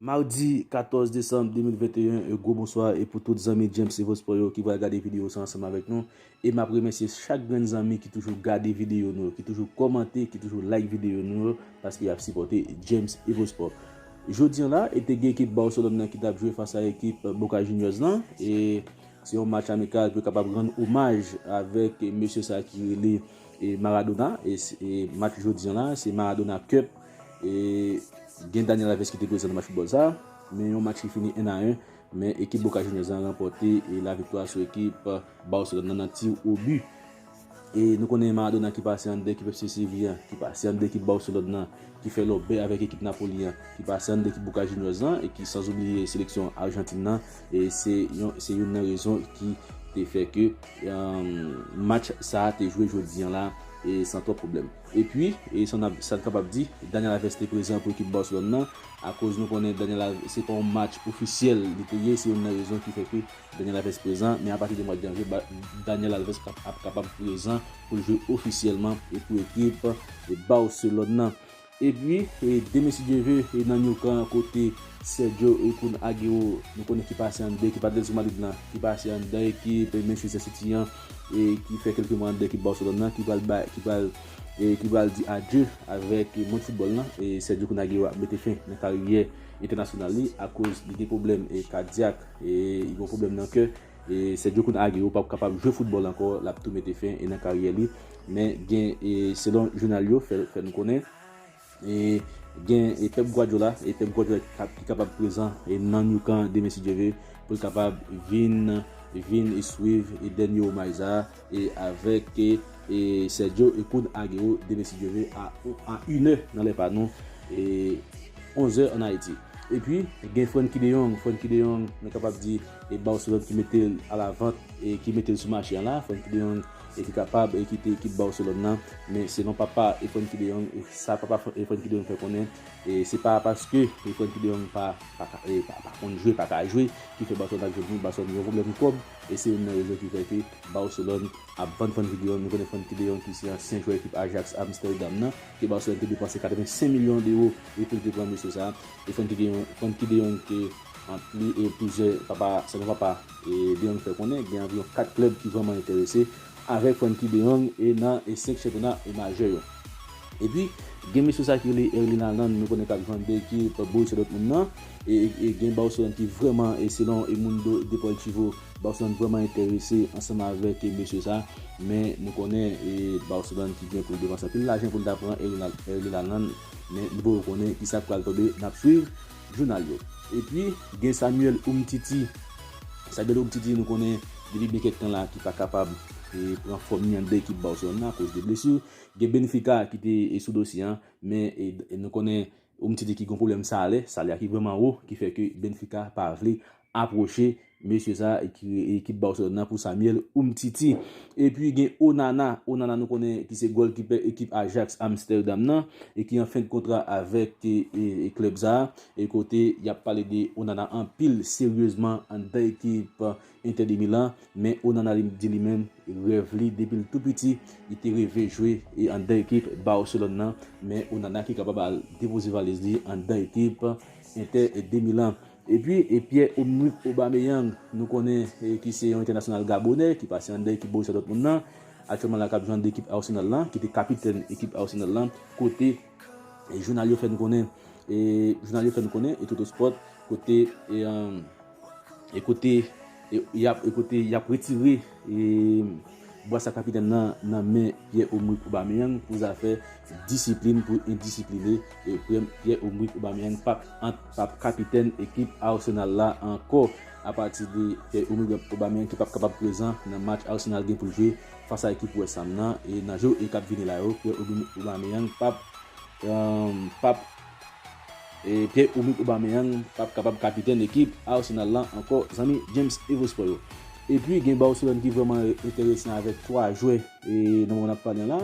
Mardi 14 desanm 2021 e gwo bonswa e pou tout zanmi James Evo Sport yo ki pral gade video sa ansanm avèk nou E map remèsye chak grenn zanmi ki toujou gade videyo nou yo, ki toujou kòmante, ki toujou like videyo nou yo, paske yap sipòte James Evosport. Jodi an la, e te gen ekip Barcelone nan ki tap jwe fas a ekip Boca Juniors lan, e se yon match amikal pou yo kapab rann omaj avèk mesye sa ki rele Maradona, e match jodi an la, se Maradona Cup, e gen Daniel Alves ki te prezan nan match foutbòl sa, men yon match ki fini 1 a 1. Men ekip Boca Juniors lan ranpòte la viktwa sou ekip Barcelone lan nan tir au but. E nou konnen Maradona ki pase anndan ekip FC Séville an, ki pase anndan ekip Barcelone lan, ki fè lòbè avèk ekip Napoli an, ki pase anndan ekip Boca Juniors lan e ki san oubliye seleksyon Argentine lan, e se youn nan rezon ki te fè ke match sa a te jwe jodi an la san twòp pwoblèm. E pwi, sa n kapab di, Dani Alves te prezan pou ekip Barcelone lan. akoz nou konnen Daniel Alves se pa yon match ofisyèl li te ye se youn nan rezon ki fè ke Daniel Alves prezan men apati de mwa janvye Daniel Alves ap kapab prezan pou l jwe ofisyèlman pou ekip Barcelone nan. Epi de mesye Dieuve nan Nou Camp kote Sergio Kun Agüero nou konnen ki pase anndan ekip Atletico Madrid lan ki pase anndan ekip Manchester City an e ki fè kèlke mwa anndan ekip Barcelone nan ki pral ki pral di adye avèk mond foutbòl lan, Sergio Kun Aguero ap mete fen nan karyè entènasyonal li akoz li gen pwoblèm kadyak, li gen pwoblèm nan kè. Sergio Kun Aguero pap kapab jwe foutbòl ankò, l ap tou mete fen nan karyè li. Men gen selon jounal yo fè nou konnen. E gen e Pep Guardiola, e Pep Guardiola ki kap ki kapab prezan e nan Nou Camp demen si Dye ve, pou l kapab vin vin e swiv e dènye omaj sa a e avèk e e Sergio e Kun Agüero demen si Dye ve a a inè nan lè pa nou e onzè an Ayiti. E pi gen Frenkie de Jong, Frenkie de Jong nou kapab di e Barcelone ki mete l a la vant e ki mete l sou mache an la, Frenkie de Jong e ki kapab kite ekip Barcelone nan, men selon papa Frenkie de Jong, sa papa Frenkie de Jong fè konnen, se pa paske Frenkie de Jong pa konn jwe, pa ka jwe, ki fè Barcelone ap jwenn li, Barcelone gen yon pwoblèm kòb, e se youn nan rezon ki fè ke Barcelone ap vann Frenkie de Jong, nou konnen Frenkie de Jong ki se ansyen jwè ekip Ajax Amsterdam nan, ke Barcelone te depanse 85 milyon dewo pou li te pran mesye sa, e Frenkie de Jong te. Ant li e plizyè papa selon papa de Jong fè konnen, gen anviwon 4 klèb ki vrèman enterese avèk Frenkie de Jong e nan 5 chanpyona majè yo. Epi gen mesye sa ki rele Erling Haaland nou konnen kap jwen de ekip Borussia Dortmund nan e gen Barcelone ki vrèman e selon El Mundo Deportivo Barcelone vrèman enterese ansanm avèk mesye sa men nou konnen e Barcelone ki gen pou l depanse anpil lajan pou l ta pran Erling Haaland men nou poko konnen kisa k pral tonbe nap swiv jounal yo. Epi gen Samuel Umtiti, Samuel Umtiti nou konnen depi gen kèk tan la ki pa kapab pran fòm ni an de ekip Barcelone nan akoz de blesu. Gen Benfica ki te sou dosye an, men nou konnen Umtiti ki gen yon pwoblèm salè, salè a ki vrèman wo ki fè ke Benfica pa vle Aproche mesye sa ki baw sòl nan pou Samuel umtiti. Epi gen Onana, Onana nou konnen ki se gòlkipè ekip Ajax Amsterdam nan e ki an fen de kontra avèk klèb sa e kote yap pale de Onana anpil seryezman anndan ekip Inter de Milan men Onana li di li menm rèv li depi l tou piti li te reve jwe anndan ekip Barcelone nan men Onana ki kapab al depoze valiz li anndan ekip Inter de Milan. Epi e Pierre-Emrick Aubameyang nou konnen ki se yon entènasyonal gabonè ki pase anndan ekip Borussia Dortmund lan, aktyèlman la kap jwe anndan ekip Arsenal lan, ki te kapitèn ekip Arsenal lan, kote jounal yo fè nou konnen e jounal yo fè nou konnen e Totosport kote e kote. E kote y ap retire bwa sa kapitèn nan nan men Pierre-Emerick Aubameyang pou zafè disiplin pou endisipline Pierre-Emerick Aubameyang p ap kapitèn ekip Arsenal la ankò apati de Pierre-Emerick Aubameyang ki p ap kapab prezan nan match Arsenal gen pou l jwe fas a ekip West Ham nan e nan jou e k ap vini la yo Pierre-Emerick Aubameyang p ap Pierre-Oumit Aubameyang pap kapab kapitèn ekip Arsenal lan ankò zanmi James Evospò yo. Epi gen Barcelone ki vrèman enteresan avèk 3 jwè nan moman nap pale an la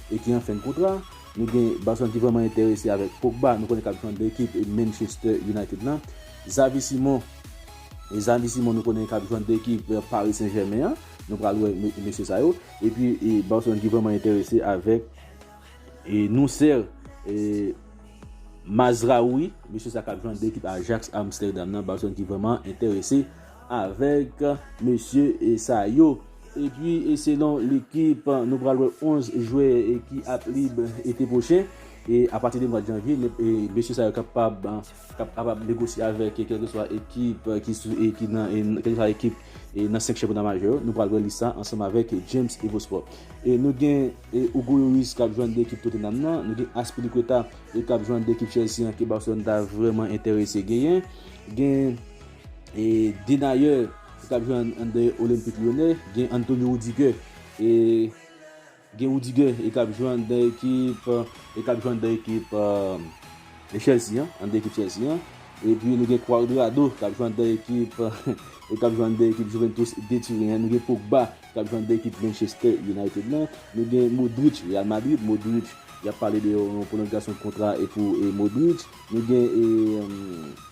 e ki an fen kontra. Nou gen Barcelone ki vrèman enterese avèk Pogba, nou konnen kap jwe anndan ekip Manchester United lan. Xavi Simon, Xavi Simon nou konnen kap jwe anndan ekip Paris Saint Germain an. Nou pral wè mesye sa yo. Epi Barcelone ki vrèman enterese avèk. E Noussair Mazraoui, mesye sa kap jwenn de ekip Ajax Amsterdam nan, Barcelone ki vreman enterese avèk mesye sa yo. E pi e selon lekip nou pral wè 11 jwè ki ap lib ete pwochen. E apati de mwa janvye, mesye sa yo kapab k ap kapab negosye avèk kèlkeswa ekip ki sou e ki nan kèlkeswa ekip nan 5 chanpyona majè yo nou pral wè lis sa ansanm avèk James Evosport e nou gen Hugo Lloris k ap jwenn de ekip Tottenham nan nou gen Azpilicueta e k ap jwenn de ekip Chelsea an ke Barcelone ta vrèman enterese genyen gen e Denayer ki t ap jwenn de Olympique Lyonnais gen Antonio Rudiger e. Gen Rudy Guy e kap jwe anndan ekip e kap jwe anndan ekip Chelsea an, anndan ekip Chelsea an. Epi nou gen Cuadrado kap jwe anndan ekip e kap jwe anndan ekip Juventus de Turin an. Nou gen Pogba kap jwe anndan ekip Manchester United lan. Nou gen Modric Real Madrid, Modric yap pale de yon pwolongasyon kontra e pou Modric. Nou gen e.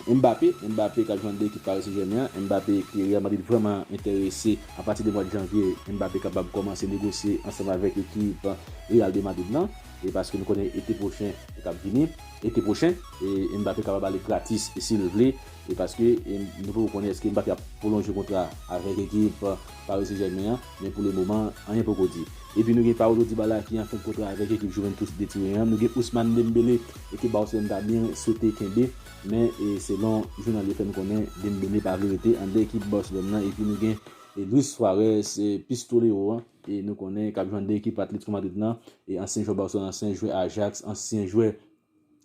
Mbappé, Mbappé kap jwenn de ekip Paris Saint Germain an, Mbappé ke Real Madrid vrèman enterese a pati de mwad janvye Mbappé kapab kòmanse negosye ansanm avèk ekip Real de Madrid lan e paske nou konnen ete pwochen kap vini ete pwochen Mbappé kapab ale gratis sil vle e paske nou poko konnen eske Mbappé ap pwolonje kontra avèk ekip Paris Saint Germain an. Men pou le moman, anyen poko di. Epi nou gen Paulo Dybala ki an fen kontra avèk ekip Juventus de Turin an, nou gen Ousmane Dembele ekip Barcelone ta byen swete kenbe, men selon jounal yo fè n konnen Dembele pa vle rete andan ekip Barcelone nan epi nou gen Luis Suarez Pistolero an nou konnen k ap jwe andan ekip Atlético Madrid lan, ansyen jwè Barcelone, ansyen jwè Ajax, ansyen jwè.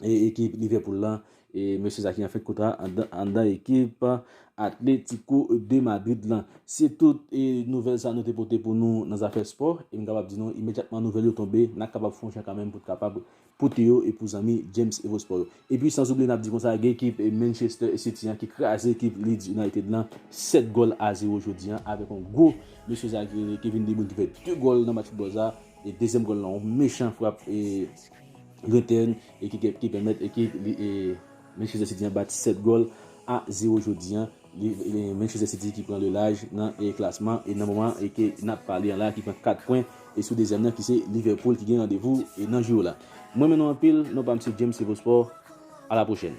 ekip Liverpool la e mesye sa ki an fèt kontra anndan ekip Atlético de Madrid la. Se tout e nouvèl sa nou te pote pou nou nan zafè spò e m kapab di nou imedyatman nouvèl yo tonbe n ap kapab fon jan kanmenm pou t kapab pote yo e pou zanmi James Evo Sport yo. E pi san zoubliye n ap di konsa gen ekip Manchester City an ki kraze ekip Leeds United la 7 gòl a 0 jodi an avèk yon gwo mesye sa ki rele Kevin De Bruyne ki fè 2 gòl nan match foutbòl sa e dezyèm gòl la yon mechan frap e Return e ki pèmèt ekip Manchester City an bat 7 gòl a 0 jodi an. Manchester City ki pran le laj nan klasman e nan moman ke n ap pale an la ki pran 4 pwen e sou dezyèm nan ki se Liverpool ki gen randevou nan jou la. M renmen nou anpil, non pa m se James Evo Sport, a la pwochèn.